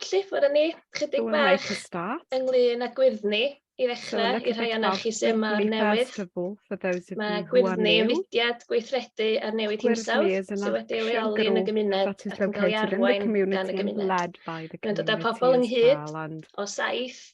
Felly, ffwrdd â ni ychydig bach ynglyn â gwyrddni i ddechrau, i'r rhai ohonoch chi sydd yma newydd. Mae gwyrddni yn fudiad gweithredu ar newid hinsawdd sydd wedi ei leoli yn y gymuned ac yn cael ei arwain gan y gymuned. Mae'n dod â pobl ynghyd o saith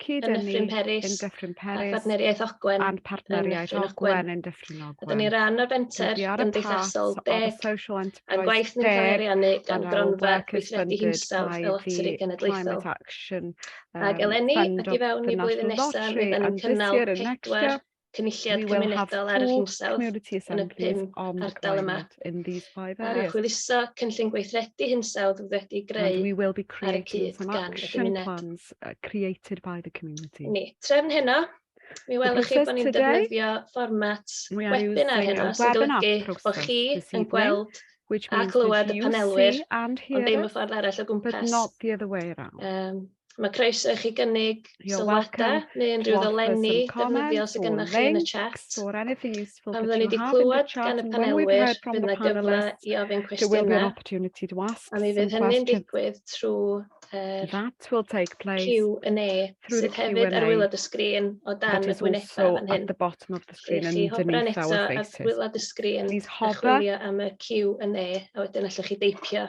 Cyd yn Nyffryn Peris, yn Dyffryn Peris, a Phartneriaeth Ogwen, and Partneriaeth Ogwen yn Dyffryn Ogwen. Ydyn ni ran o'r fenter gymdeithasol deg a'n gwaith ni'n cael ei ariannu gan gronfa gweithredu hinsawdd fel atri genedlaethol. Ac eleni, ac i fewn i flwyddyn nesaf, rydyn ni'n cynnal pedwar cynulliad cymunedol ar yr hinsawdd yn y pum ardal yma, a chwyluso cynllun gweithredu hinsawdd fydd wedi greu ar y cyd gan y gymuned. Uh, Ni, trefn heno, mi welwch chi bod ni'n defnyddio fformat webinar heno, sy'n golygu bod chi yn gweld a clywed y panelwyr, ond ddim y ffordd arall o gwmpas. Um, Mae croeso i chi gynnig sylwadau neu unrhyw ddolenni defnyddiol sydd gennych chi yn y chat. Pan fyddwn ni wedi clywed gan y panelwyr, bydd yna gyfle i ofyn cwestiynau, a mi fydd hynny'n digwydd trwy'r Q&A sydd hefyd ar waelod y sgrin o dan y gwynebau fan hyn. Gwnewch chi hofran eto ar waelod y sgrin a chwilio am y Q&A, a wedyn allwch chi deipio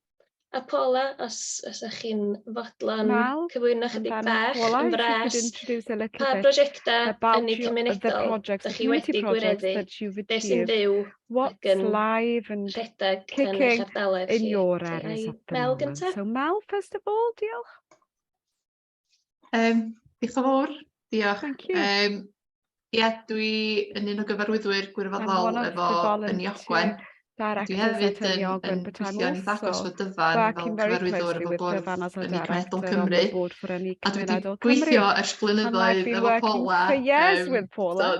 A Paula, os ydych chi'n fodlon cyflwyno chydig bach yn fras, pa brosiectau ynni cymunedol ydych chi wedi gwireddu, beth sy'n byw ac yn rhedeg yn eich ardaloedd chi? Mel gyntaf? Um, diolch yn fawr. Diolch. Thank you. Um, Ie, yeah, dwi yn un o gyfarwyddwyr gwirfoddol efo yn Iogwen. Dwi hefyd yn, yn gweithio yn ddagos fod dyfan fel cyfarwyddwr efo bwrdd yn Cenedl Cymru. A dwi wedi gweithio ers blynyddoedd efo Paula um,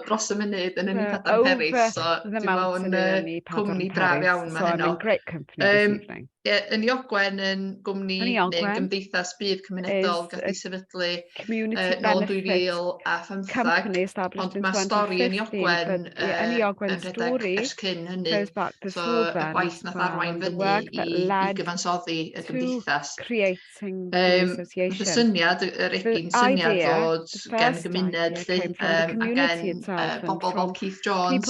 dros y munud yn unig Adam Peris. So dwi'n meddwl yn cwmni braf iawn mae heno. Um, Ie, Ynni Ogwen yn gwmni neu yn gymdeithas budd cymunedol gath ei sefydlu nôl yn 2015, ond mae stori Ynni Ogwen yn rhedeg ers cyn hynny, so y gwaith nath arwain fyny i gyfansoddi y gymdeithas. Felly syniad, yr egin syniad fod gen gymuned lly, a gen bobl fel Keith Jones,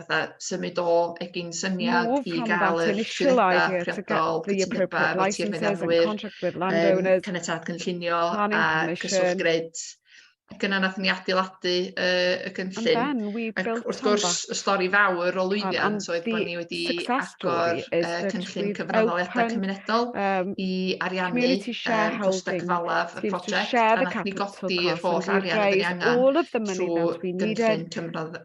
fatha symud o egin syniad Move i gael yr trwyddedau priodol cytundebau efo tir meddalwyr, caniatad cynllunio a cyswllt grid. Ac yna nath ni adeiladu uh, y gynllun. Ac wrth gwrs, y stori fawr o lwyddiant oedd bod ni wedi agor uh, cynllun cyfranoliadau cymunedol um, i ariannu um, costau cyfalaf y prosiect a nath ni godi yr holl arian ydyn ni angen trwy gynllun cyfranoliadau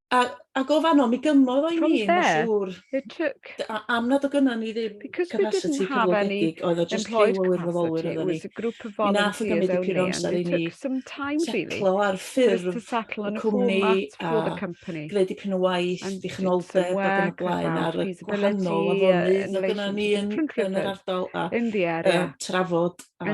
A, a go fanno, mi gymmodd o'i mi, mae'n siŵr. Am nad o gynna ni ddim capacity cyflogedig, oedd o just lliw o wirfoddolwyr oedd ni. Mi nath o gymryd i pur amser i ni setlo ar ffurf y cwmni a gwneud dipyn o waith, dichnoldeb ac yn y blaen ar y gwahanol afonydd oedd gynna ni yn yr ardal a trafod a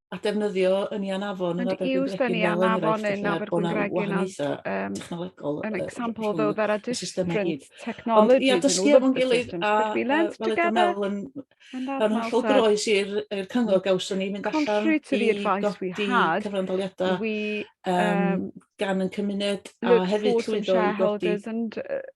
a defnyddio yn Ian Avon yn Abergwyn Bregin fel enghraifft yn Abergwyn Bregin as um, technolegol an example uh, though there are different technologies ia, dysgu efo'n gilydd a fel ydym meddwl yn yn hollol groes i'r cyngor gawson ni mynd allan i godi cyfrandoliadau um, gan yn cymuned a hefyd llwyddo i godi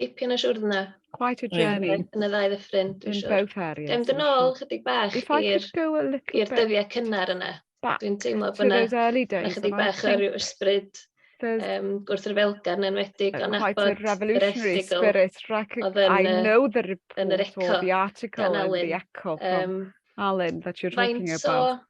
Dipyn o siwrne. Quite a journey. Yn y ddau ddyffryn, dwi'n siwr. In both areas. Gael mynd yn ôl chydig bach i'r dyddiau cynnar yna. Dwi'n teimlo bod yna chydig bach o ryw ysbryd um, gwrthryfelgar yn enwedig o'n abod yr erthigol oedd yn, yn yr eco gan Alun. Um, Alun, that you're talking about.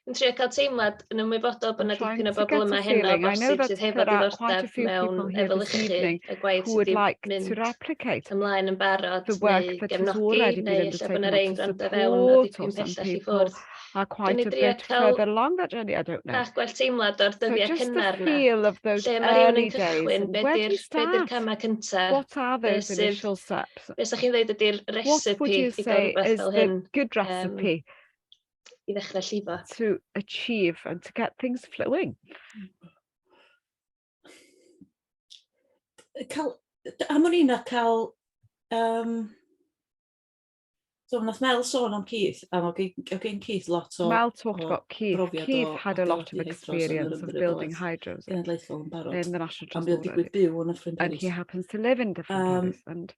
yn trio cael teimlad yn ymwybodol bod yna dipyn o bobl yma heno bosib sydd hefo diddordeb mewn efelychu y gwaith sydd wedi mynd ymlaen yn barod neu gefnogi neu lle bod yna rei gwrando fewn o dipyn pellach i ffwrdd. are quite a bit further along that journey, I don't know. Bach gwell teimlad o'r dyddiau so cynnar na. Lle mae rhywun yn cychwyn, be di'r be camau cyntaf? What are those initial steps? Beth ydych chi'n dweud ydy'r recipe i gael rhywbeth fel hyn? What would you say is the good recipe? Um, i ddechrau llifo. To achieve and to get things flowing. Cael, am o'n i'n a cael, um, so wnaeth Mel sôn am Keith, a o gen Keith lot o Mel talked o about Keith. Keith o, had a lot of experience of building hydros in the National Transport Authority. And he happens to live in different um, and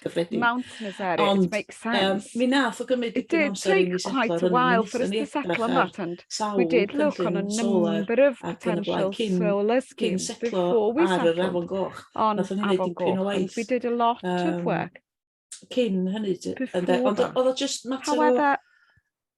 cyffredin. Mountainous area, Ond, it makes sense. Um, mi nath o gymryd dipyn amser i mi setlo rhwng while for us to settle on that and we did look on a number of potential solar schemes before we settled on Afon Goch and we did a lot of work cyn hynny. Ond oedd o just mater o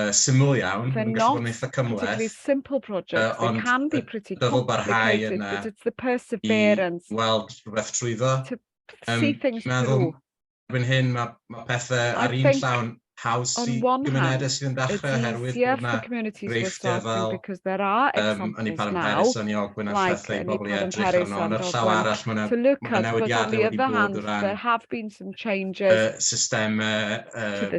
uh, syml iawn, mae'n gallu bod yn eitha cymhleth, simple projects, uh, ond can be pretty dyfod barhau yna i weld rhywbeth trwyddo. Um, meddwl, erbyn hyn mae, ma pethau ar un llawn haws i gymunedau sydd yn dechrau oherwydd bod yna greifftau fel um, yn ei Paran Paris o'n i ogwyn a llethu i bobl i edrych arno, ond ar llaw arall mae yna newidiadau wedi bod o ran uh, systemau uh,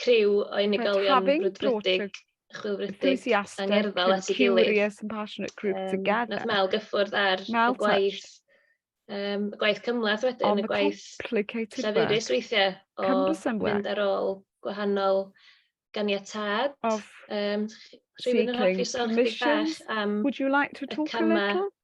criw o unigolion brwdfrydig, chwilfrydig, angerddol at ei gilydd. Nath Mel gyffwrdd ar y gwaith, um, gwaith cymlaeth wedyn, y gwaith llafurus weithiau o fynd ar ôl gwahanol ganiatad. Um, Rwy'n yn hoffi sôn chdi bach am y camau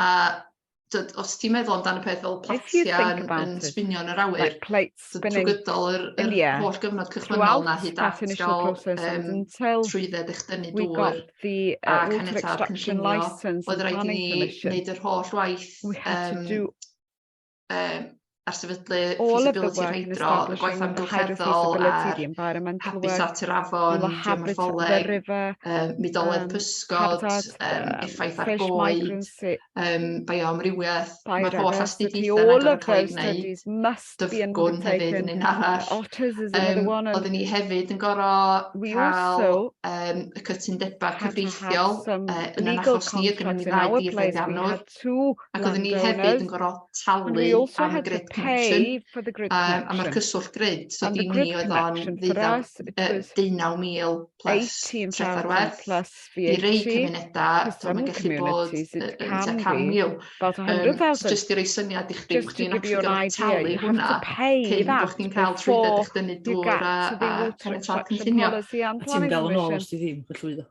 A dyd, os ti'n meddwl amdano peth fel platia yn, yn sbinio yn yr awyr, like plates trwy gydol yr, yr yeah. holl gyfnod cychwynnol na hyd at gael um, trwydded eich dynnu dŵr the, uh, a caniatad cynllunio, oedd rhaid i ni wneud yr holl waith um, um, ar sefydlu feasibility hydro, gwaith amgylcheddol a'r habitat yr afon, geomorffoleg, um, midoleg um, pysgod, um, effaith ar goed, um, bioamrywiaeth. Mae'r holl astudiaethau yna'n gorfod cael ei wneud. Dyfgwn hefyd yn un arall. Um, oedden ni hefyd yn gorfod cael um, y cytundebau cyfreithiol uh, yn yr achos ni, oedd gennym ni ddau dîr ddianwr. to Ac oedden ni hefyd yn gorfod talu am y grid connection. Um, a mae'r cyswllt grid, so di ni oedd o'n ddeunaw, deunaw mil plus treth ar werth. I rei cymunedau, so mae'n gallu bod yn tua can mil. Um, just i rei syniad i chdi, bod ni'n actually gorfod talu hwnna cyn bod chdi'n cael trwydded eich dynnu dŵr a, a caniatad cynllunio. A ti'n gael yn ôl os ti ddim yn llwyddo.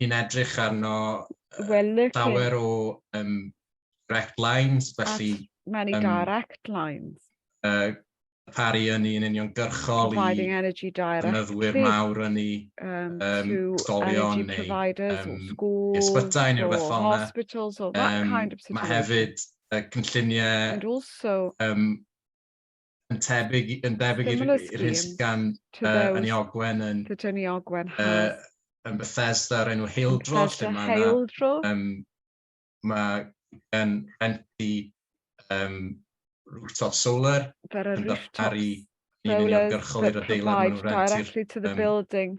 ni'n edrych arno llawer o um, direct lines, felly... At many um, direct lines. Uh, paru ynni yn union gyrchol i ynnyddwyr mawr ynni, um, um, stolion neu um, ysbytai neu rhywbeth fel yna. Um, mae hefyd y cynlluniau um, yn tebyg, yn debyg i'r hyn sydd gan uh, Ynni Ogwen yn, Ynni Ogwen uh, yn Bethesda o'r enw Heildro, lle mae yna, um, mae gen Renti um, rooftop solar yn darparu ni'n uniongyrchol i'r adeilad maen nhw'n rhentu'r um,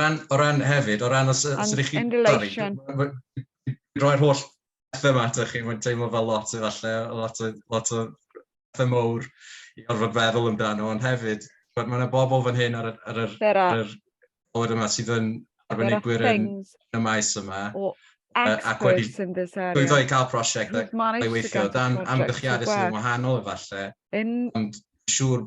ran, o ran hefyd, o ran os, os ydych chi'n... Roi'r holl bethau yma atoch chi, mae'n teimlo fel lot efallai, lot o, lot o bethau mowr i orfod feddwl amdano, ond hefyd, mae yna bobl fan hyn ar, ar, ar, ar, ar yr bod yma sydd yn arbenigwyr yn, y maes yma. Ac wedi llwyddo i cael prosiect ac ei weithio dan amgylchiadau sydd yn wahanol efallai, ond siŵr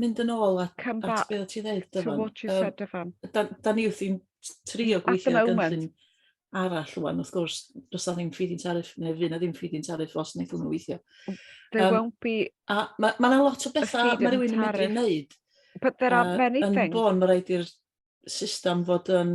mynd yn ôl at, Come at back be o ti ddeud, to Dyfan. what you Um, said, Dyfan. da, da ni wrthi'n trio At gweithio the ar moment. gynllun arall rwan, wrth gwrs, does na ddim feed-in tariff, neu fydd na ddim feed-in tariff os wnaeth hwnnw weithio. There Um, won't be, A mae ma yna lot o bethau mae feed-in rhywun yn medru tariff. wneud but there are uh, many yn things. bôn, mae rhaid i'r system fod yn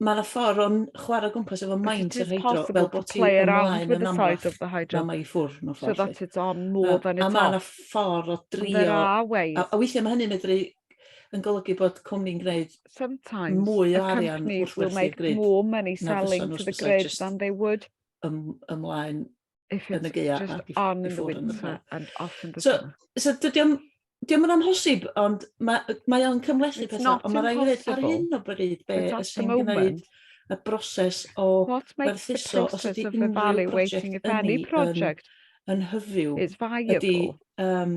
mae yna ffordd o'n chwarae gwmpas efo maint yr hydro, fel bod ti'n ymlaen yn amlach, mae mae i ffwrdd mewn ffordd. So that it's on more than it's off. A mae yna ffordd o drio... A weithiau mae hynny'n medru yn golygu bod cwmni'n gwneud mwy o arian wrth werthu'r grid. Sometimes a companies will make more money selling to the grid than they would ymlaen If yn y geia just ac on in the winter and off in the so, summer. So dydy o'n Diolch yn amhosib, ond mae, mae o'n cymlethu pethau, ond mae rhaid i ddweud ar hyn o bryd be sy'n gwneud y broses o werthuso os ydy unrhyw prosiect ynni yn, yn hyfyw ydy um,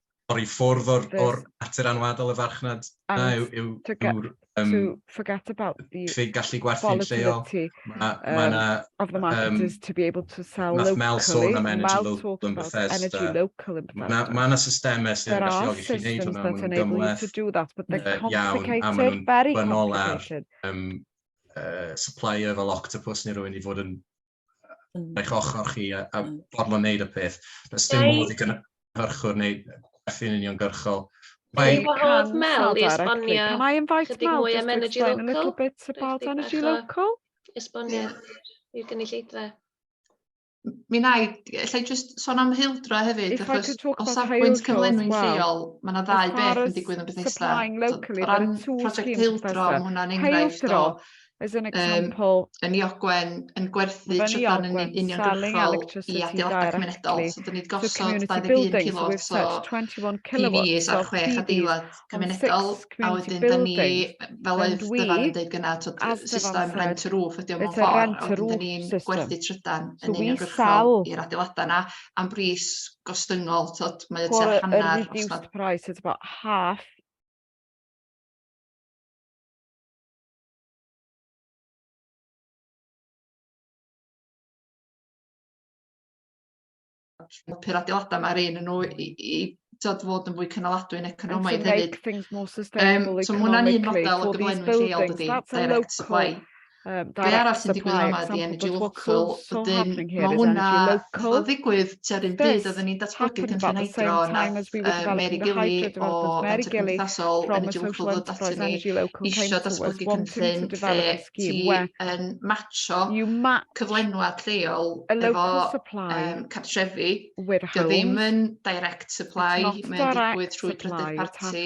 torri ffwrdd o'r, o'r natur anwadol y farchnad yna yw, yw, yw'r um, diffyg gallu gwerthu'n lleol. Mae ma yna... Of the market um, is to be able to sell locally. Mel sôn am energy local yn Bethesda. Mae yna systemau sy'n galluogi chi wneud hwnna, maen nhw'n gymleth iawn, a maen nhw'n banol ar um, uh, supplier fel Octopus neu rhywun i fod yn eich ochr chi a, a mm. bodlon wneud y peth. Does dim modd i gynhyrchwr neu gwerthu'n uniongyrchol. Mae wahodd Mel i esbonio chydig mwy am energy local. A little bit about energy local. Esbonio i'r gynulleidfa. Mi na i, allai jyst sôn am heildro hefyd, achos o safbwynt cyflenwi'n lleol, mae yna ddau beth yn digwydd yn Bethesda. O ran prosiect heildro, mae hwnna'n enghraifft o As an example, um, yn Iogwen yn gwerthu trydan yn uniongyrchol i adeiladau cymunedol. So, dyn ni'n gosod 21 kilowat so PVs ar chwech adeilad cymunedol, a wedyn dyn ni, fel oedd dyfan yn dweud gyna, system rent a roof ydy o'n mewn ffordd, a wedyn dyn ni'n gwerthu trydan yn uniongyrchol i'r adeiladau yna, am bris gostyngol, tod, mae o tua hanner, os nad... price, it's about half helpu'r adeilada' 'ma rei o'nyn nw i i t'od fod yn fwy cynaladwy'n economaidd hefyd. Yym so ma' hwnna'n un model o gyflenwi lleol dydi? Direct supply. Yym direct supply. Be' arall sy'n digwydd yma ydi energy local wedyn ma' hwnna fel ddigwydd tua 'r un pryd odden ni'n datblygu cynllun hydro nath yy Mary Gilly o Fenter Cymdeithasol Energy Local ddod aton ni isio datblygu cynllun lle ti yn matsio cyflenwad lleol efo yym cartrefi 'di o ddim yn direct supply mae'n digwydd trwy drydydd parti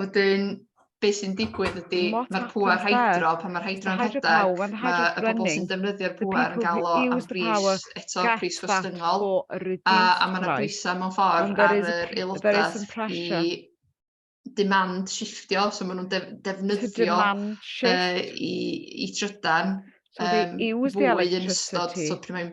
Wedyn, be sy'n digwydd ydy, mae'r pŵer hydro, pan mae'r hydro'n rhedeg, mae y bobl sy'n defnyddio'r pŵer yn gael o am bris, eto pris gwestyngol, a, a mae yna brisau mewn ffordd ar yr aelodaeth i demand shiftio, so maen nhw'n def, defnyddio uh, i, i trydan um, fwy yn ystod, so pryd mae'n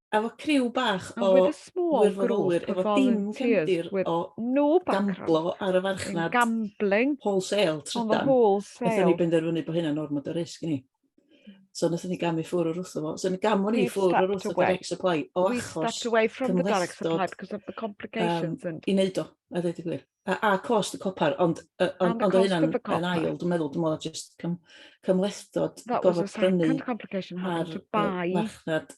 efo criw bach o wirfoddolwyr efo dim cefndir o gamblo ar y farchnad wholesale trydan, wnaethon ni benderfynu bod hynna'n ormod o risg i ni. So wnaethon ni gamu ffwrdd o'r wrth o fo. So gamon ni ffwrdd o'r wrth o direct supply o achos cymhlethdod i wneud o, a dweud y gwir. A, a cost y copar, ond ond o hynna'n yn ail, dwi'n meddwl, dwi'n meddwl, jyst cymhlethdod gofod prynu ar farchnad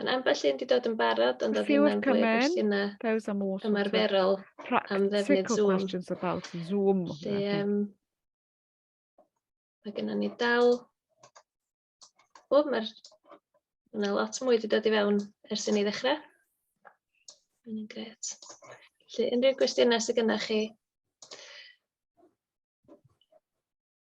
Yn ambell un 'di dod yn barod ond oedd hynna'n fwy o gwestiynau Those are more ymarferol am ddefnydd Zoom. questions about Zoom. Lle, um, mae gennym ni dal... O, mae'r... Mae lot mwy wedi dod i fewn ers i ni ddechrau. Mae'n gret. Felly, unrhyw gwestiynau sydd gennych chi,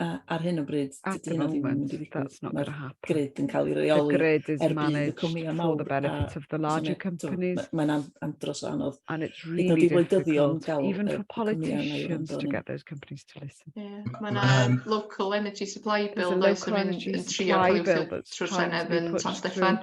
ar hyn o bryd, dydy hynna ddim yn mynd i ddigwydd. Mae'r grid yn cael ei reoli er budd y cwmnïau mawr. Mae'n andros o anodd. And it's really difficult, even for politicians to get those companies to listen. Mae'n um, local energy supply bill, does, yn trio cael ei trwy'r Senedd yn San Steffan.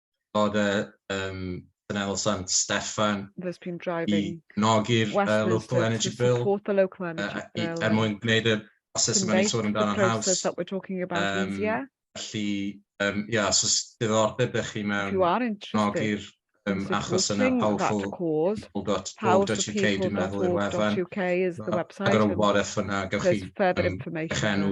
Fod y um, Canal Sant Steffan i nogi'r uh, local energy bill, local energy uh, bill i, er mwyn gwneud y proses yma ni'n sôn amdano'n haws. Um, felly, um, ia, os oes diddordeb ych chi mewn nogi'r um, achos yna powerful.org.uk dwi'n meddwl i'r wefan. Agor y wareth yna, gawch chi um, eich enw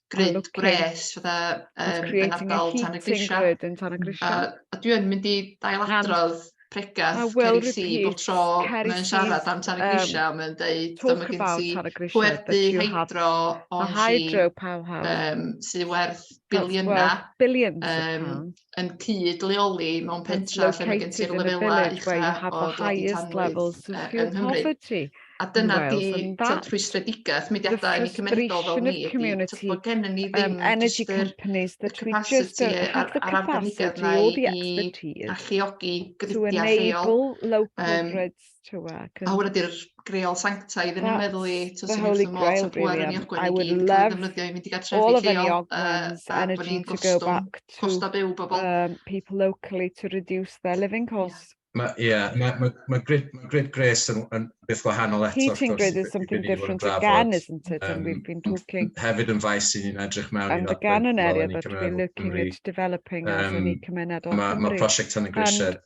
grid oh, gwres fatha um, yn ardal tan y grisiau. A, a dwi yn mynd i dail adrodd pregath Ceri Si bob tro mae'n siarad am tan y grisiau, um, mae'n dweud dyma gen ti pwerdu hydro o hydro um, sydd werth biliynau um, yn cyd leoli mewn pentra lle mae gen ti'r lefelau ucha o doditanrwydd yng Nghymru. A dyna di tyd rhwystredigaeth mudiadau yn y cymunedol fel ni ydi, tyd bod gen ni ddim just yr capacity a'r arbenigedd na i alluogi grydiau lleol. Chewbacca. A hwnna di'r greol sanctaidd yn meddwl i, ti'n sy'n holy grail really am. Um, I would love all of any Ogwen's energy to go back to um, people locally to reduce their living costs. Mae, ie, yeah, mae ma, ma grid, ma grid Grace yn, yn beth wahanol eto. Heating grid is something different again, isn't it? And we've been talking... Hefyd yn faes i ni'n edrych mewn i... And again an area that we're looking at developing as an economedol. Mae prosiect tan y grisiau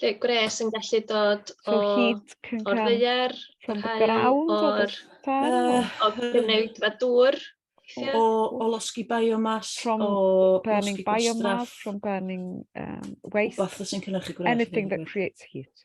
Lle gwres yn gallu dod o... From heat can come... O'r ddeir, o'r hael, o'r... O gwneud fa dŵr. O, o losgi biomass, from o burning biomass, from burning um, waste. Rhywbeth sy'n cynnyrchu gwres. Anything that creates heat.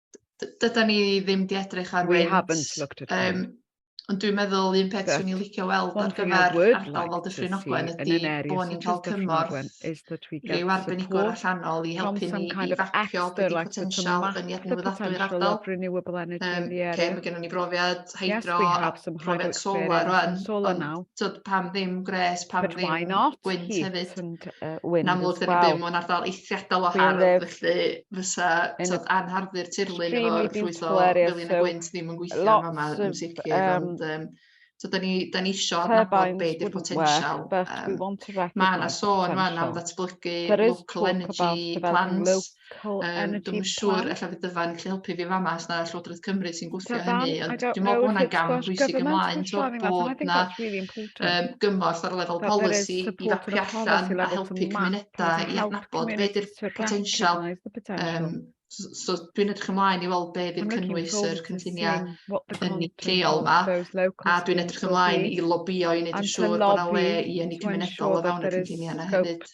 dyda ni ddim di edrych ar We haven't looked at um, Ond dwi'n meddwl un peth swn i'n licio weld ar gyfer ardal fel Dyffryn Ogwen ydy bod ni'n cael cymorth rhyw arbenigwr allanol i helpu ni i fapio beth potensial yn iad newyddadwy'r ardal. Um, okay, mae gennym ni brofiad hydro, yes, a profiad solar rwan. Solar now. Tyd, pam ddim gres, pam But ddim gwynt hefyd. And, uh, wind Yn amlwg, dyn ni'n byw mewn ardal eithriadol o hardd, felly fysa tyd, anharddu'r tirlun efo llwytho felyn y gwynt ddim yn gweithio yn yma yn sicr. Um, ond, um, So, da ni, da ni isio nabod be di'r potensial. Um, mae yna sôn fan am ddatblygu local energy plants. Cool. Um, dwi'n siŵr efallai bydd dyfa'n gallu helpu fi fama os na Llywodraeth Cymru sy'n gwthio hynny. Ond dwi'n meddwl bod hwnna'n gam bwysig ymlaen to bod na um, gymorth ar lefel polisi i fapu allan a helpu cymunedau i adnabod beth yw'r potensial um, So, so dwi'n edrych ymlaen i weld be fydd cynnwys yr cynlluniau yn y lleol yma, a dwi'n edrych ymlaen i lobio i wneud yn siŵr bod yna le i ynni cymunedol o fewn y cynlluniau yna hefyd.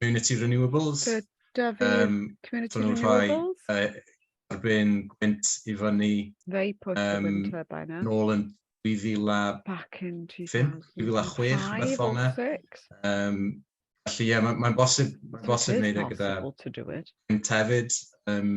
Community Renewables. Gyda fi, um, Community Renewables. Rhai, uh, ar ben gwynt i fyny. Fe i pwt um, y turbine. Nôl yn 2005, 2006, beth fel yna. Um, felly, ie, mae'n ma bosib, ma bosib wneud e gyda yn tefyd. Um,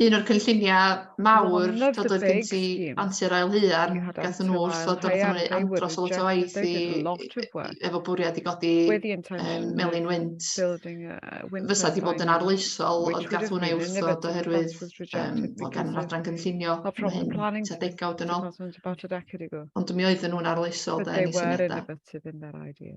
un o'r cynlluniau mawr dod oedd gen ti antur ail huan, gath nhw wrth ddod o'r Cymru andros o lot o waith i, efo bwriad i godi um, melin wynt. Fysa di bod yn arloesol, ond gath hwnna i wrth ddod oherwydd um, bod gan yr adran gynllunio hyn ta degawd yn ôl. Ond mi oedden nhw'n arloesol da ni syniadau.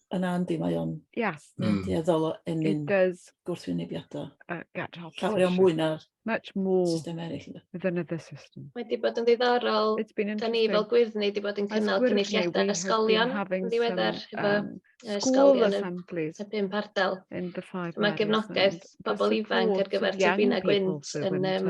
yna yndi, mae o'n... Yes. Mae'n mm. dueddol o ennyn gwrthwynebiadau. Uh, get hot. Llawer o mwy na'r Much more system eraill. Than other system. Mae di bod yn ddiddorol. It's been interesting. Da ni fel gwyddni di bod yn cynnal cynulliadau ysgolion yn ddiweddar efo ysgolion y pum pardal. Mae gefnogaeth bobl ifanc ar gyfer tybina gwynt yn um,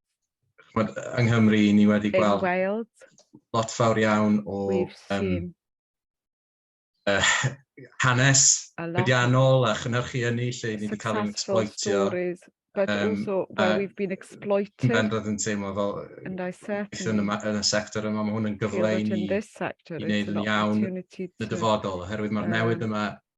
chmod, yng Nghymru, ni wedi gweld, gweld. lot fawr iawn o um, uh, hanes bedianol a chynhyrchu ynni lle ni wedi cael ein exploitio. But um, also where uh, we've been exploited. Yn bendant yn teimlo fel gweithio'n yn y sector yma, mae hwn yn gyfle i ni i wneud yn iawn yn y dyfodol, oherwydd mae'r newid yma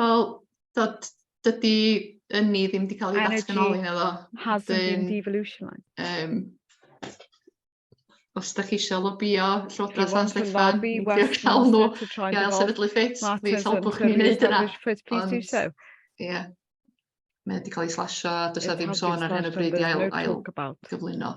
Wel, dod, dydy yn ni ddim wedi cael ei ddatganoli na ddo. Hasn't been devolutionised. Um, os da chi eisiau lobio Llywodraeth San Steffan, diolch cael nhw gael sefydlu ffit, please helpwch ni wneud yna. Ond, ie, mae wedi cael ei slasio, does na ddim sôn ar hyn o bryd i ail, ail gyflwyno.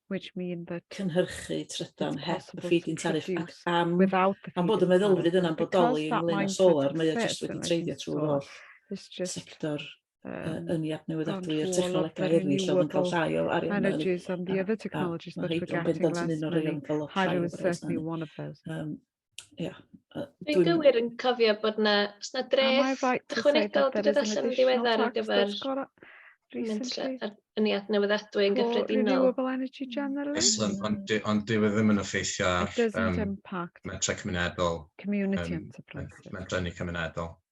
which mean that cynhyrchu trydan heb y feed-in tariff ac am, am bod y meddylfryd yna'n bodoli ynglyn â solar, mae o jyst wedi treiddio trwy'r holl sector uh, yn i adnewyddadwy a'r technolegau eraill oedd yn cael llai o arian mewn. Energies and the other technologies that we're getting last minute, hydro is certainly one of those. Um, Ia. Dwi'n gywir yn cofio bod na, os na dreth right ychwanegol wedi dod allan yn ddiweddar ar gyfer ynniad newyddadwy yn gyffredinol. Excellent, ond on dyw e ddim yn effeithio ar um, metrau cymunedol, um, metrau ni cymunedol.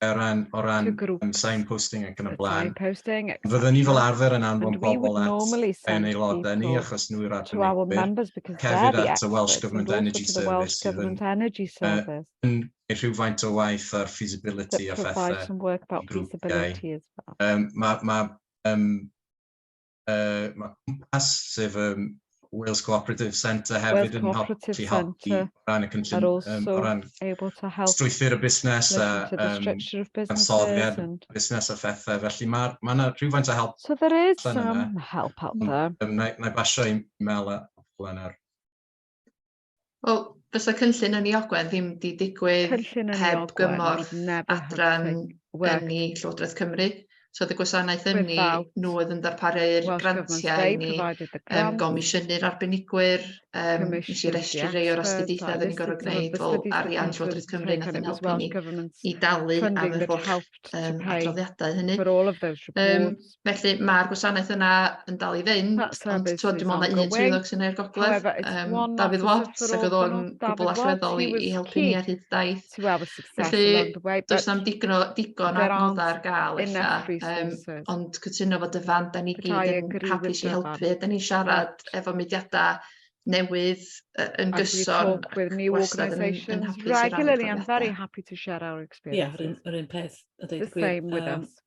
o ran, o ran um, signposting ac yn y blaen. Fyddwn ni fel arfer yn anfon bobl at yn aelodau ni achos nhw yw'r arbenigwyr, hefyd at y Welsh Government Energy Service sydd yn, uh, yn rhywfaint o waith ar feasibility a phethau i grwpiau. Um, mae ma, um, uh, mae cwmpas, sef um, Wales Cooperative Centre hefyd yn helpu helpu o ran y cynllun, um, o ran strwythyr y busnes a um, ansoddiad busnes a phethau. Felly mae ma yna rhywfaint o help. So there is some help out there. Um, na, na basio i Mel a Helen ar. Wel, fysa cynllun ynni Ogwen ddim 'di digwydd... Cynllun ynni Ogwen... ...heb gymorth adran ynni Llywodraeth Cymru. So oedd y gwasanaeth ynni, nhw oedd yn darparu'r grantiau i ni, yym gomisiynu'r arbenigwyr, yym wnes i restru rei o'r astudiaethau oedden ni'n gorfod gwneud, wel arian Llywodraeth Cymru wnaeth yn helpu ni i dalu am yr holl yym adroddiadau hynny. Yym... Felly ma'r gwasanaeth yna yn dal i fynd ond t'wod dwi me'wl ma' un swyddog sy'n neud gogledd yym Dafydd Watts ag o'dd o'n gwbwl allweddol i i helpu ni ar hyd daith felly does na'm digon o digon o adnodda ar ga'l ella yym ond cytuno fod y fan 'dan ni gyd yn hapus i helpu 'dan ni'n siarad efo mudiada newydd yy yn gyson wastad yn yn hapus i rannu profiada. Ie yr un yr un peth a deud y gwir yym.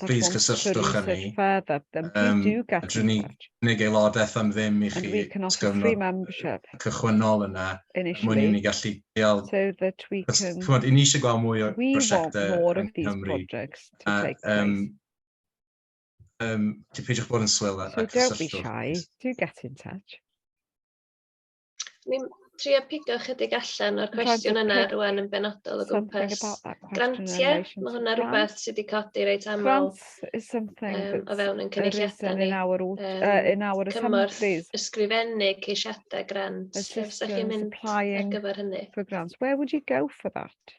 plîs cysylltwch â ni. Yym, fedrwn ni gynnig aelodaeth am ddim i chi os gyfnod cychwynnol yna, er mwyn i ni gallu deall... Chimod, i ni eisiau gweld mwy o brosiectau yng Nghymru, a yym, yym, peidiwch bod yn swil a cysylltwch. Ni'n trio pigo chydig allan o'r cwestiwn yna rwan yn benodol o gwmpas grantiau. Mae hwnna rhywbeth sydd wedi codi reit aml um, o fewn yn cynulliadau ni. Um, cymorth ysgrifennu ceisiadau grant. Ydych chi'n mynd ar gyfer hynny? For grants. Where would you go for that?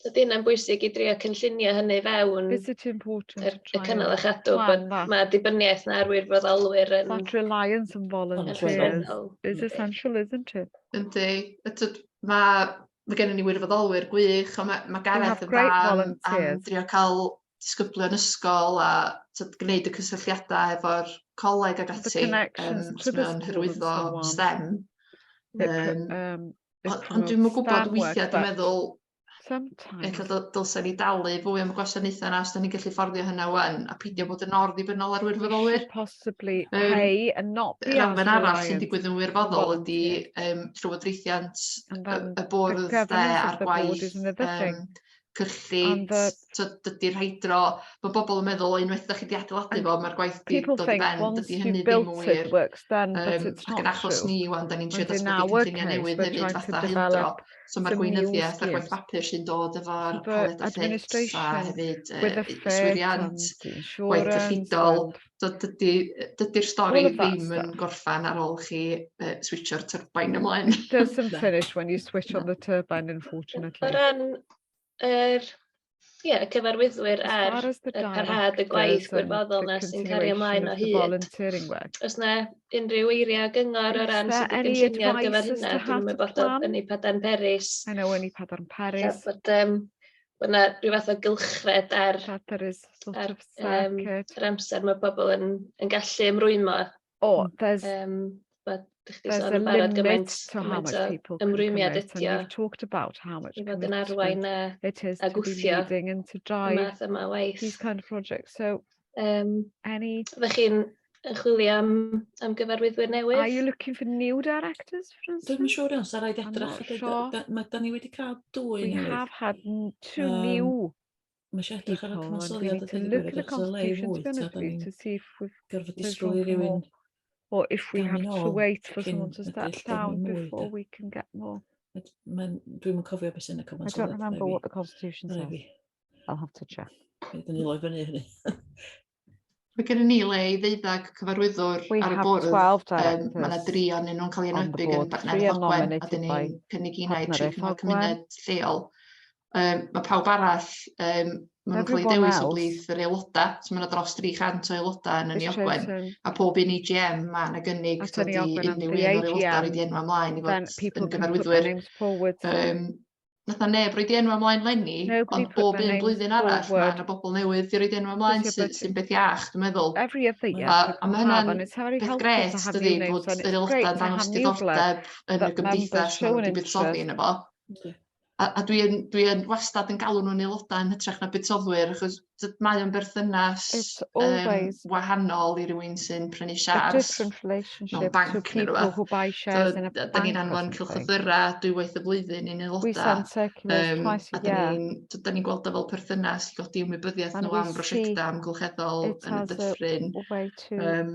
So di hynna'n bwysig i drio cynllunio hynny fewn... Is it important to try... ...y cynnal a chadw, mae dibyniaeth na ar wirfoddolwyr yn... That reliance on volunteers is essential, isn't it? Yndi, ydy, mae ma gennym ni wirfoddolwyr gwych, a mae ma Gareth yn fan am drio cael disgyblion ysgol a tyd, gwneud y cysylltiadau efo'r coleg ag ati, um, mae'n hyrwyddo STEM. Um, Beth Ond ond dwi'm yn gwybod weithiau, dwi'n meddwl Sometimes. ella dyl- dylsen ni dalu fwy am y gwasanaethau yna os da ni'n gallu fforddio hynna wan, a peidio bod yn orddibynnol ar wirfoddolwyr. Possibly Yym, pay and not be Yr elfen arall sy'n reliant digwydd yn wirfoddol ydy volunteer. um, llywodraethiant And y, then y the bwrdd de governance of a'r the board gwaith is another thing. um, cyllid t'od dydi'r hydro ma' bobl yn meddwl unwaith 'dach chi 'di adeiladu fo ma'r gwaith 'di dod i ben dydi hynny ddim yn wir yym ac yn achos ni ŵan 'dan ni'n trio datblygu cynlluniau newydd hefyd fatha hydro so ma'r gweinyddiaeth a'r gwaith bapur sy'n dod efo'r pellet a llet a hefyd yy yswiriant gwaith cyllidol So dydy, dydy'r stori ddim yn gorffan ar ôl chi uh, switcho'r turbine ymlaen. It doesn't finish when you switch on the turbine, unfortunately. O ran yr Ie, yeah, cyfarwyddwyr ar y parhad y gwaith gwirfoddol na sy'n cario ymlaen o hyd. Os na unrhyw eiriau gyngor o ran sydd wedi gynllunio ar gyfer hynna, dwi'n ymwybodol yn ei padarn Peris. I know yn ei padarn Peris. Bod, um, Bod 'na ryw fath o gylchred ar... Llanberis sort of circus. ...ar yym yr amser ma' pobl yn yn gallu ymrwymo... O there's... ...yym bod dach chi 'di sôn yn barod gymaint gymaint o ymrwymiad ydi o... ...we've talked about how much commitment... ...i fod yn arwain a a gwthio y math yma o waith. ...these kind of projects so... Yym... any... Ydych chi'n yn chwilio am am gyfarwyddwyr newydd? Are you looking for new directors for instance? Dwi'm yn siŵr iawn, sa raid edrych. Dwi'n siŵr. Da, ma, da ni wedi cael dwy We newydd. have had two um, new Mae eisiau edrych ar y cyfansoddiad a dwi'n gwybod at y lei fwy, ta da ni'n gorfod disgwyl i rywun Or if we have to wait for someone to step down before we can get more. Dwi'n cofio beth sy'n y cyfansoddiad. I don't remember what the constitution says. I'll have to check. Rydyn ni loi fyny hynny. Mae gen ni le i ddeuddag cyfarwyddwr ar y bwrdd. Um, mae yna dri o'n nhw'n cael ei enwedig yn Bartneriaeth Ogwen, a dyn ni'n cynnig i wneud tri cyngor cymuned lleol. Um, mae pawb arall, um, mae nhw'n cael ei dewis o blith yr aelodau, so mae yna dros 300 o aelodau yn y Ogwen, a pob un EGM mae yna gynnig dod i unrhyw un o'r aelodau rydyn nhw'n ymlaen i fod yn gyfarwyddwyr. Um, fatha neb roi di enw ymlaen lenni, ond bob un blwyddyn arall mae yna bobl newydd di roi di enw ymlaen sydd sy'n beth iach, dwi'n meddwl. A, a mae hynna'n beth gret, dydy, bod yr aelodau'n dangos diddordeb yn y gymdeithas maen nhw wedi buddsoddi yn efo. A, a dwi'n dwi yn wastad yn galw nhw'n aelodau yn hytrach na buddsoddwyr, achos d- mae o'n berthynas It's um, always wahanol i rywun sy'n prynu a siars different mewn relationship to banc neu people rhywbeth. who buy shares in a Da bank ni or anfon something. cylchlythyra dwywaith y flwyddyn i'n We aelodau. send circulars Yym, twice a a da year. ni'n d- da ni'n gweld o fel perthynas i godi ymwybyddiaeth And nhw we am see brosiectau amgylcheddol it yn y as a dyffryn. way to Yym,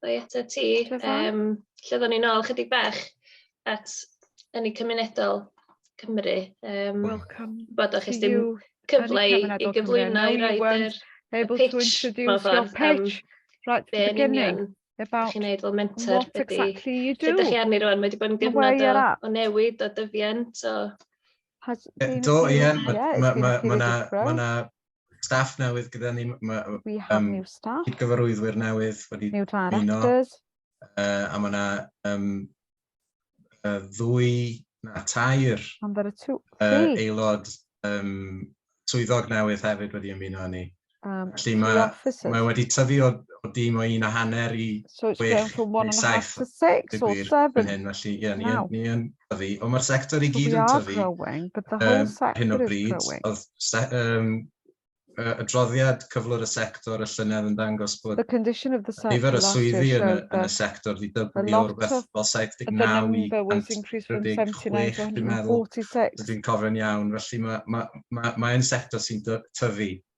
Dda i atat ti. Yym, lle oedden ni nôl chydig bach at ynni cymunedol Cymru. Um, Welcome bod o'ch dim cyfle i, i gyflwyno i roed yr able pitch, to introduce your pitch right the beginning about chi'n neud fel mentor what exactly you do. Ydych chi arni rwan, mae wedi bod yn gyfnod o, o newid, o dyfiant, o... Do, ie, mae yna staff newydd gyda ni. Mae, We have um, new staff. Cydgyfarwyddwyr newydd wedi new directors. Uh, a mae yna um, uh, ddwy na tair And there are two, uh, aelod um, swyddog newydd hefyd wedi ymuno â ni. Um, Felly mae, mae wedi tyfu o, o dim o un a hanner i so it's going from one and a half to six or seven. Hyn, felly, yeah, ni, ni, ni, tyfu, ond mae'r sector i gyd yn tyfu ar hyn o bryd. Oedd adroddiad cyflwr y sector y llynedd yn dangos bod nifer y swyddi yn y sector wedi dyblu o rywbeth fel 79 i 136 dwi'n meddwl, os dwi'n cofio'n iawn. Felly, mae'n sector sy'n tyfu.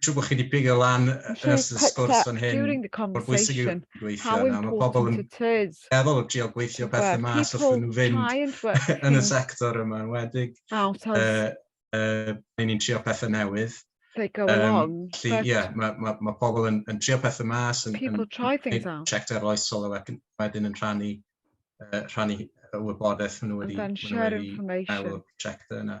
siw bod chi wedi pigo lan ers y sgwrs fan hyn, mor bwysig yw gweithio yna. Mae pobl yn meddwl o drio gweithio pethau mas wrth nhw fynd yn y sector yma, yn wedig uh, uh, ni'n trio pethau newydd. Um, lli, yeah, mae, ma, ma pobl yn, yn trio pethau mas, yn, yn, yn checked ar oesol a wedyn yn rhannu, uh, rhannu y wybodaeth maen nhw wedi, wedi meddwl, checked yna.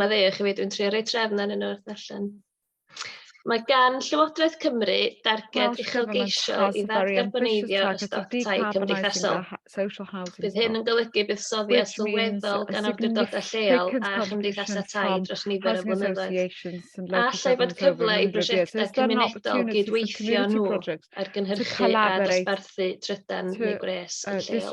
Mae'n ddeg i fi, dwi'n trio rhoi trefn ar un o'r ddarllen. Mae gan Llywodraeth Cymru darged uchelgeisio i ddargarboneiddio y stoc tai cymdeithasol. Bydd hyn yn golygu buddsoddiad sylweddol gan awdurdodau lleol a chymdeithasau tai dros nifer o flynyddoedd. Allai fod cyfle i brosiectau cymunedol gydweithio nhw ar gynhyrchu a dosbarthu trydan neu gwres yn lleol.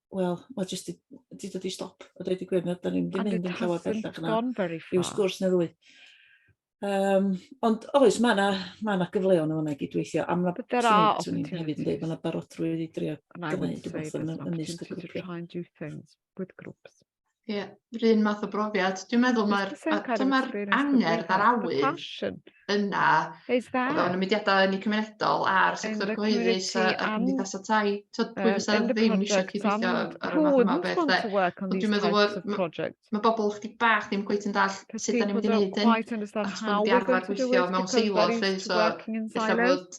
Wel, mae jyst di, di dod i stop, a dweud i gwir, na, da ni'n ddim mynd yn llawer bellach yna. I'w sgwrs na ddwy. Um, ond oes, mae yna ma na gyfleon o'n ag i dweithio. Am na beth swn i'n hefyd yn dweud, mae yna barodrwydd i drio gwneud rhywbeth yn ymysg y grwpiau. Ie, yr un math o brofiad. Dwi'n meddwl mae'r dyma'r angerdd a'r awydd yna o fewn y mudiadau yn y cymunedol a'r sector cyhoeddus a, a cymdeithas y tai. Tyd, pwy um, fysa ddim eisiau cydweithio ar y math yma o beth de. Ond dwi'n meddwl bod mae ma bobl chdi bach ddim gweith yn dall sut da ni'n mynd i wneud hyn. Achos bod wedi arfer gweithio mewn seilo, lle so efallai bod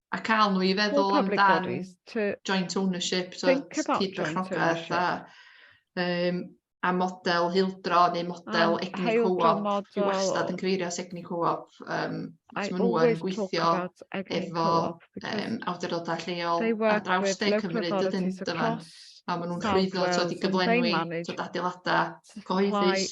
A cael nhw i feddwl amdan joint ownership, so cyd-berchnogaeth a, um, a model hildro neu model um, egni co-op. Dwi wastad yn cyfeirio at egni co-op. Um, so maen nhw'n gweithio efo um, awdurdodau lleol ar draws de Cymru, dydyn dyma. A maen nhw'n llwyddo tod i gyflenwi tod adeiladau cyhoeddus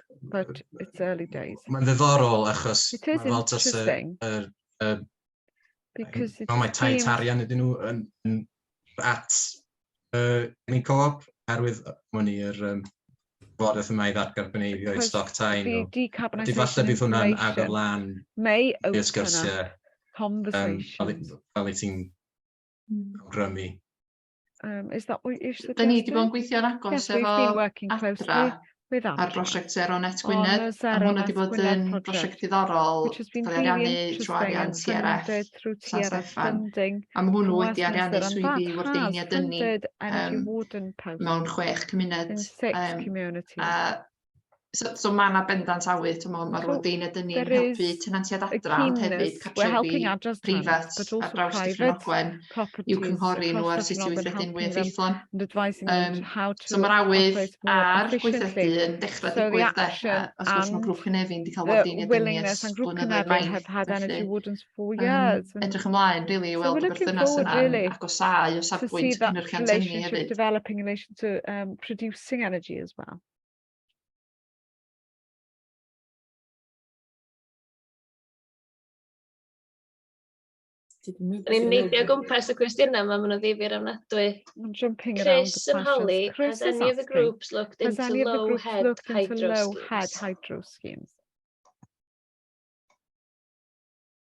but it's early days. Mae'n ddiddorol achos It is mae fel tas y, interesting y, y, because it no, mae tai seems tarian ydyn nhw yn, yn at uh, ni co-op oherwydd mwyn i'r um, bwrdd yma i ddatgarboneiddio i Because stoc tai the nhw. Di falle decarbonisation bydd hwnna'n agor information lan may i open up ysgyrsiau um, fel, conversation. i- fel i ti'n Mm. awgrymu. Um, is that what you're suggesting? Da ni wedi bod yn gweithio'n agos yes, efo Adra ar brosiect Zero Net Gwynedd, oh, a hwnna wedi bod yn brosiect diddorol gael ei ariannu trwy arian TRF San Steffan. A mae hwnnw wedi ariannu swyddi wardeiniad ynni um, mewn chwech cymuned. Um, a So, so mae yna bendant awy, ti'n meddwl, mae'r so, dyn ydyn ni'n helpu tenantiad adra, ond hefyd cartrefi prifat ar draws Dyffryn Ogwen i'w cynghori nhw ar sut i weithredu'n fwy effeithlon. Um, so mae'r awydd a'r gweithredu yn dechrau digwydd de, os gwrs mae grŵp Cynefin wedi cael bod yn ydyn ni ers blynyddoedd maith, felly um, edrych ymlaen, really, i weld y berthynas yna really, agosau o safbwynt cynhyrchiant tynnu hefyd. developing in relation to um, producing energy as well. Ni'n neidio o gwmpas y cwestiynau yma, maen nhw'n ddifyr ofnadwy. Chris and Holly, has any of the groups looked into low head hydro schemes?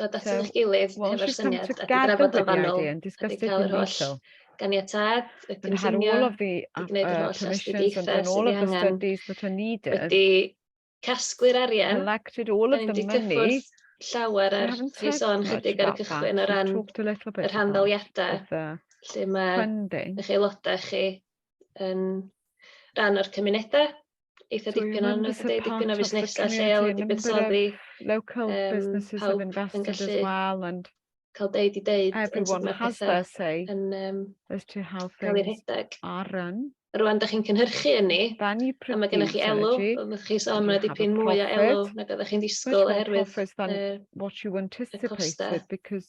dod at eich gilydd hefo'r syniad a drafod o fanwl, a di cael yr holl ganiatad, y cynllunio, i gwneud yr holl astudiaethau sydd ei angen, wedi casglu'r arian, da ni'n di cyffwrdd llawer ar rhi sôn chydig ar y cychwyn o ran y rhanddeiliadau lle mae eich aelodau chi yn rhan o'r cymunedau eitha dipyn o'n eitha dipyn o fusnesau lleol wedi buddsoddi. Local um, businesses have invested as well and cael deud i deud everyone has their say yn, um, as to how things are run. Rwan, da chi'n cynhyrchu yn ni, a mae gennych chi elw, oeddech chi sôn mae dipyn mwy o elw nag oeddech chi'n disgwyl oherwydd uh, what you anticipated, because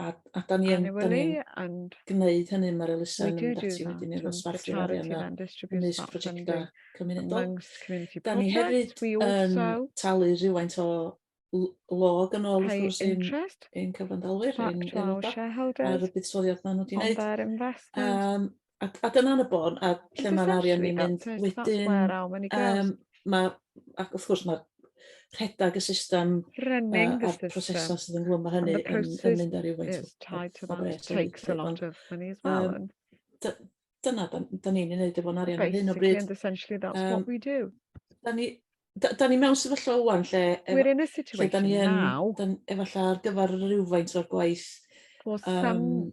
a, a da ni yn, da ni yn gwneud hynny, mae'r elusen yn mynd ati wedyn i'r ddosbarthu arian a ymwneud prosiectau cymunedol. Da ni hefyd yn talu rhywfaint o log yn ôl wrth gwrs i'n ein cyfandalwyr, ein aelodau, ar y buddsoddiad maen nhw wedi gwneud. Um, A a dyna'n y bôn, a lle ma'r arian yn mynd wedyn, yym ma' ac wrth gwrs ma' rhedag y system a a'r prosesau sydd ynghlwm â hynny yn yn mynd ar ryw faint o bres hefyd yym dy- dyna 'dan 'dan ni'n ei wneud efo'n arian ar hyn o bryd yym 'dan ni 'da- 'dan ni mewn sefyllfa ŵan lle ef- lle 'dan ni yn dan efallai ar gyfer rywfaint o'r gwaith yym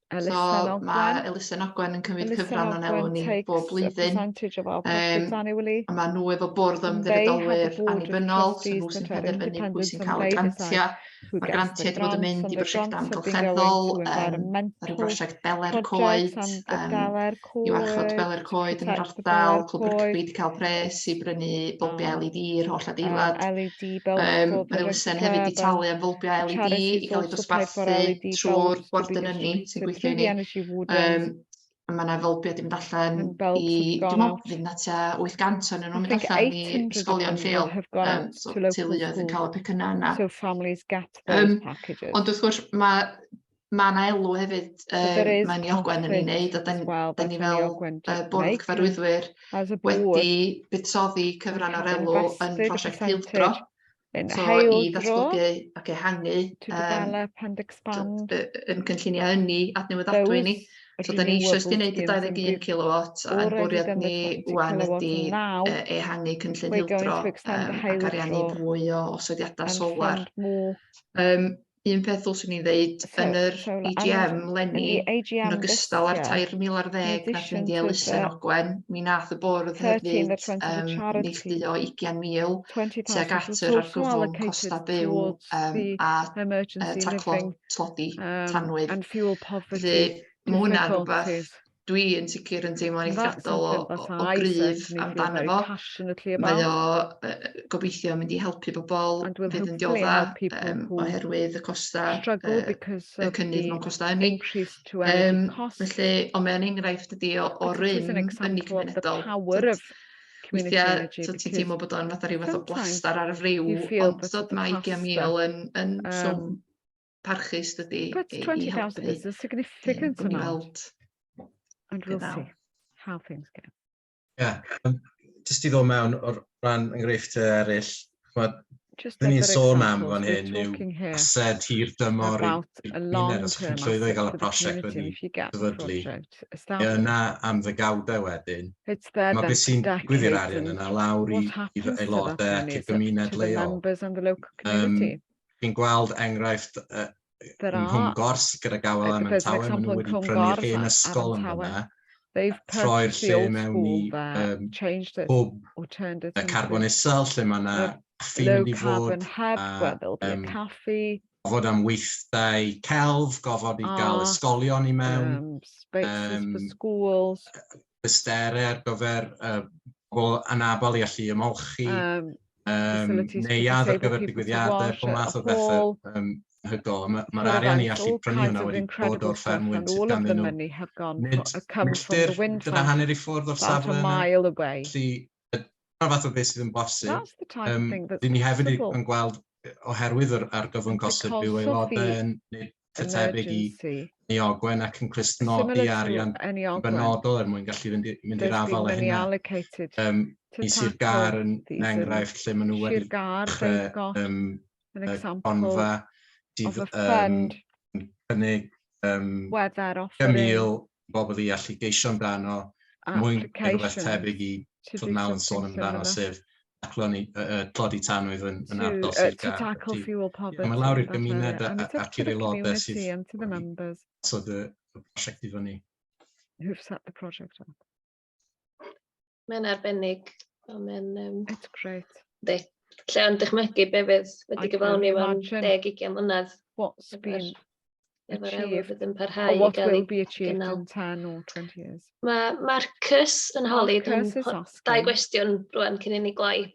Elisa so, mae Elisa Nogwen yn cymryd Elisa cyfran o'n elw ni bob blwyddyn. Um, a mae nhw efo bwrdd ymddiriedolwyr annibynnol, so nhw sy'n penderfynu pwy sy'n cael y grantiau. Mae grantiau wedi bod yn mynd i brosiectau amgylcheddol, um, ar y brosiect Beler Coed, um, i warchod gwely'r coed yn yr ardal, Cwbr Cymru wedi cael pres i brynu bylbiau LED i'r holl adeilad. LED um, Mae elusen hefyd wedi talu am fylbiau LED i gael eu dosbarthu e trwy'r bwrdd yn ynni sy'n gweithio i ni. Um, mae yna fylbiau wedi mynd allan i... Dwi'n meddwl fydd yna tua 800 o'n nhw'n mynd allan i ysgolion lleol. Um, so, teuluoedd yn cael y pecynnau yna. So families get those um, packages. Ond wrth gwrs, mae ma' 'na elw hefyd yy mae'n Iogwen yn ei wneud a 'dan ni well, ni fel uh, bwrdd cyfarwyddwyr wedi buddsoddi cyfran o'r elw yn prosiect Hildro so i ddatblygu ac ehangu um, yn cynlluniau ynni adnewyddadwy ni So da ni eisiau ysdi wneud y 21 kilowatt a'n bwriad ni wan ydi ehangu cynllun hildro ac ariannu mwy o osodiadau solar. Um, un peth ddylswn i ddeud, so, yn yr so, AGM lenni, yn ogystal â'r 3,000 ar ddeg nath mynd i elusen Ogwen, mi nath y bwrdd hefyd um, neillduo 20,000 tuag at yr argyfwng costa byw um, a uh, taclo tlodi tanwydd. Felly, mae hwnna'n rhywbeth dwi yn sicr yn teimlo'n eithriadol o, o, o gryf amdano fo. Mae o uh, gobeithio mynd i helpu bobl fydd yn diodda um, oherwydd y costau, uh, y cynnydd mewn costau ynni. Um, felly, ond mae'n enghraifft ydi o, o rym ynni cymunedol. Weithiau, so ti'n teimlo bod o'n fath o rhyw fath o blastar ar y friw, ond dod mae 20,000 yn, yn um, swm parchus dydy But i, i 20,000 helpu is a significant um, amount. And we'll see how things go. Yeah, um, just i ddod mewn o'r rhan enghreifft eraill, chwad, Dyn ni'n sôn am fan hyn yw ased hir dymor i'r gymuned os chi'n llwyddo i gael y prosiect wedi dyfodlu. Ie, yna am ddygawdau wedyn. Mae beth sy'n gwyddi'r arian yna lawr i aelodau ac y gymuned leol. Um, chi'n gweld enghraifft uh, Nghwmgors gyda Gawel am Tawe, maen nhw wedi prynu'r hen ysgol yn hwnna, troi'r lle mewn i um, hwb y carbon isel lle mae yna caffi mynd i fod a um, gofod am weithdai celf, gofod i gael ysgolion i mewn, um, ysterau ar gyfer pobl anabl i allu ymolchi, neuadd ar gyfer digwyddiadau, pob math o bethau hygol. Mae'r arian i allu prynu hwnna wedi bod o'r fferm wynt sydd ganddyn nhw. Nid milltir gyda hanner i ffwrdd o'r safle yna. Felly, dyna fath o beth sydd yn bosib. Dyn ni hefyd yn gweld, oherwydd yr argyfwng gosod byw aelodau yn eitha tebyg i Ni Ogwen ac yn clustnodi arian benodol er mwyn gallu fynd, mynd i'r afal a hynna. Um, I Sir Gar yn enghraifft lle maen nhw wedi dechrau um, onfa sydd yn cynnig um, 5,000 bobl i allu geisio amdano, mwyn rhywbeth tebyg i fod nawr yn sôn amdano, sef acloni, uh, tlodi tanwydd yn, yn ardal Sir Gaerdydd. Mae lawr i'r gymuned ac i'r aelodau sydd wedi sod y prosiect i fyny. Who've set the project up. Mae'n arbennig. Mae'n... Um... It's great. Di. Lle am dychmygu be fydd wedi gyflawni mewn deg ugian mlynedd. What's been efo'r elw fydd yn parhau i gael ei gynnal. 10 or 20 years. Mae Marcus yn holi dau gwestiwn rwan cyn i ni gloi.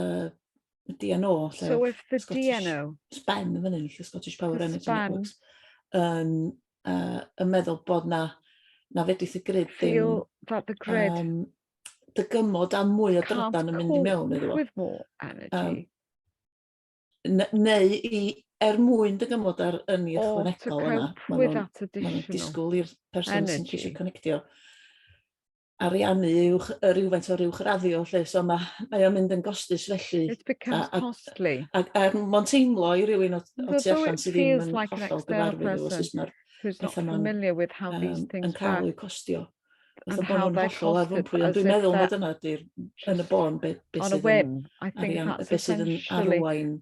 uh, DNO, lle so if the Scottish, DNO... Spen yn fyny, lle Scottish Power Energy Networks, yn uh, yn meddwl bod na, na fedrith y grid ddim... that the grid... Um, dygymod a mwy o drydan yn mynd i mewn iddo fo. Um, neu i, er mwyn dygymod ar yn i ychwanegol yna, maen nhw'n disgwyl i'r person sy'n ceisio connectio ariannu uwch yy rywfaint o'r uwchraddio 'lly so ma' mae o'n mynd yn gostus felly. It becomes costly. A a a ma'n teimlo i rywun o o tu allan sydd ddim yn hollol gyfarwydd efo sut ma'r petha 'ma'n yym yn ca'l eu costio. Fatha bo' nw'n hollol ar fwmpwy ond dwi'n meddwl mai dyna 'di'r yn y bôn be' be' sydd yn arian- yy be' sydd yn arwain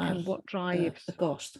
ar yy y gost.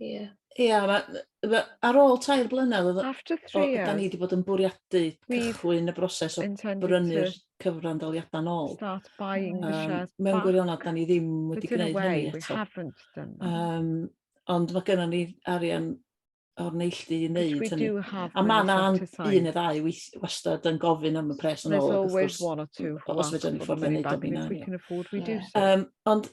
Ie. Ia ma' yy ma' ar ôl tair blynedd oddo... After three years. ...o- 'dan ni 'di bod yn bwriadu cychwyn y broses o brynu'r cyfrandoliada nôl. Start buying the shares back. Yym mewn gwirionedd 'dan ni ddim wedi gneud hynny eto. But in a way we haven't done that. Yym ond ma' gynnon ni arian o'r neilldu i neud hynny. Which we do have been able to sign. A ma' 'na un ne' ddau weith- wastad yn gofyn am y pres yn ôl ag wrth gwrs... There's always one or two who ask for the money back and if we can afford we do so. Yym ond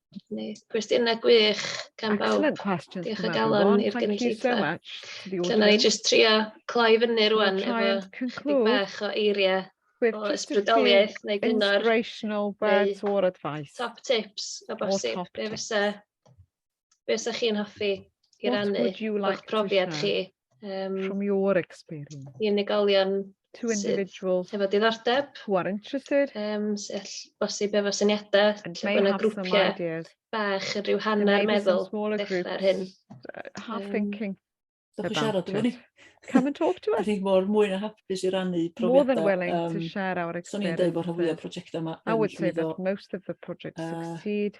'Na ni, cwestiynau gwych gan bawb. Excellent questions Diolch o galon i'r gynulleidfa. Felly, na ni jyst trio cloi fyny rwan efo dig bach o eiriau o ysbrydoliaeth neu gyngor. Inspirational words or advice. Top tips o bosib. Be fysa, be fysa chi'n hoffi i rannu o'ch profiad chi? Um, From your experience. I unigolion to individuals hefo diddordeb who are interested um, sell bosib efo syniadau and may have some ideas bach yn rhyw hanner meddwl dechrau'r hyn uh, half thinking Dwch chi siarad efo ni. Come and talk to us. Rwy'n mor mwy na hapus i rannu profiadau. More than willing um, to share our experience. So'n i'n dweud bod rhan fwyaf prosiectau yma I would say that most of the projects uh, succeed.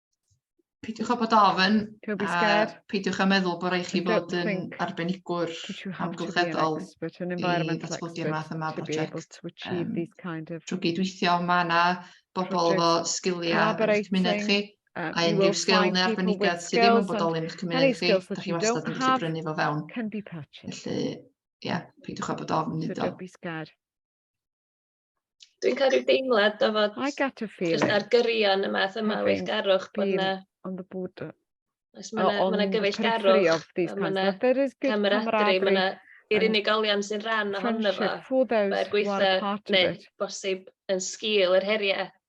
peidiwch â bod ofyn. Don't be scared. A peidiwch â meddwl bod rhaid chi fod yn arbenigwr amgylcheddol i ddatblygu'r math yma prosiect. Um, drwy gydweithio, mae yna bobl efo sgiliau yn eich cymuned chi, um, a unrhyw sgil neu arbenigedd sydd ddim yn bodoli yn eich cymuned chi, da chi wastad yn gallu brynu fo fewn. Felly, ie, yeah, peidiwch â bod ofn iddo. Dwi'n cael rhyw deimlad o fod... I get a feeling. ...jyst ar gyrion y math yma o weithgarwch bod yna... On the border. Os mae yna ma gyfeillgarwch, mae yna camaraderie, mae yna i'r unigolion sy'n rhan ohono fo, mae'r gweitha neu bosib yn sgil yr heriau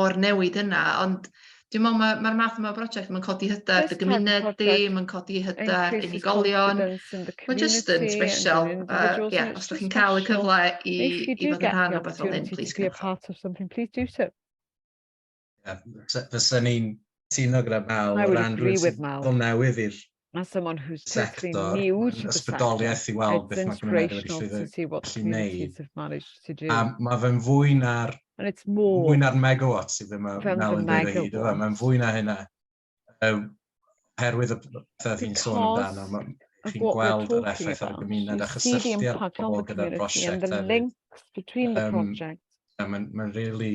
o'r newid yna ond dwi'n me'wl ma' ma'r math yma o broject ma'n codi hyder dy gymuned di ma'n codi hyder unigolion ma' jyst yn sbesial a ie os dych chi'n ca'l y cyfle i i fod yn rhan o rwbeth fel hyn plîs gwnewch o. Ie fysa ni'n cytuno gyda Mal o ran rwun sy'n dod newydd i'r Mae someone who's totally new to the ysbrydoliaeth i weld beth mae Gwynedd wedi gallu neud. A mae fe'n fwy na'r mwy na'r megawatts sydd ddim yn nawr yn dweud hyd o fe. Mae'n fwy na hynna. Herwydd y pethau fi'n sôn amdano, chi'n gweld yr effaith ar y gymuned a chysylltiad pobl gyda'r prosiect hefyd. Mae'n really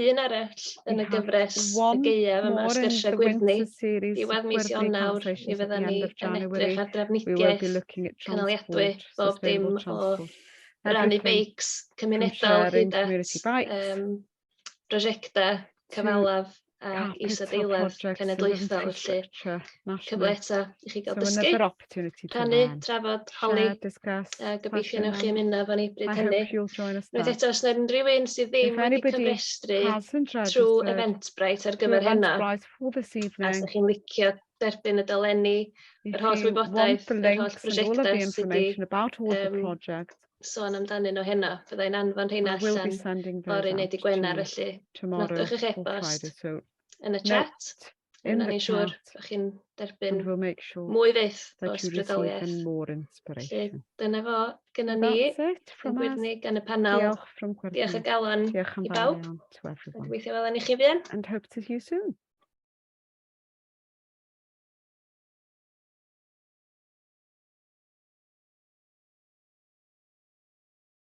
un arall yn y gyfres y gaeaf yma, Sgyrsiau Gwyrddni. Diwedd mis Ionawr, mi fydden ni yn edrych ar drafnidiaeth cynaliadwy bob dim o rannu beics cymunedol hyd at um, prosiectau cyfalaf a isadeiledd cenedlaethol, felly cyfle eto i chi gael dysgu. opportunity to Rhannu, learn. trafod, holi. Share, discuss, uh, Gobeithio newch chi ymuno efo ni bryd hynny. Rwy'n eto, os yna unrhyw un sydd ddim wedi cyfrestru trwy Eventbrite ar gyfer hynna, a os chi'n licio derbyn y dolenni, yr holl wybodaeth, yr holl prosiectau sydd wedi um, sôn amdanyn nhw hynna, fyddai'n anfon hynna allan o'r uned i Gwener, felly nodwch eich e-bost yn y chat. In the siŵr, ydych chi'n derbyn mwy fyth o ysbrydoliaeth. Felly, dyna fo, gyda ni, yn gwirni gan y panel. Diolch y galon i bawb. Gweithio fel yn i chi fy'n. And hope to see you soon.